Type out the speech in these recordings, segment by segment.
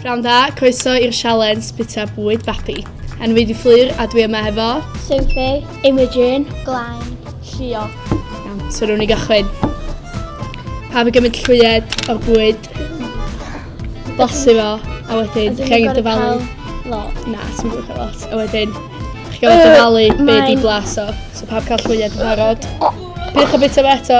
Pnawn da, croeso i'r sialens bita bwyd babi. Yn wedi fflur a dwi yma hefo... Sophie, Imogen, Glain, Llio. Iawn, so rwy'n ni gychwyn. Pa fi gymryd llwyed o'r bwyd, blasu fo, a wedyn chi'n angen dyfalu. Lot. Na, sy'n gwybod cael lot. A wedyn, chi'n angen dyfalu beth i blas o. So pa fi cael llwyed yn barod. Pidwch o bita fe eto.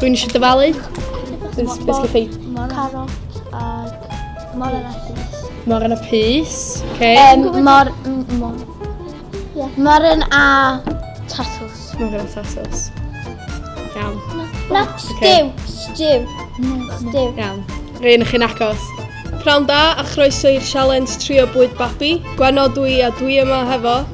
Dwi'n eisiau dyfalu. Dwi'n eisiau ffeid. Carot ac mor yna pys. Mor yna pys. Okay. Um, mor... Mor... Yeah. Mor yna tatws. Mor yna tatws. Iawn. Na, stiw. Stiw. Stiw. Iawn. Rhaid i chi'n agos. Prawn da a chroeso i'r sialens trio bwyd babi. Gwenno dwi a dwi yma hefo.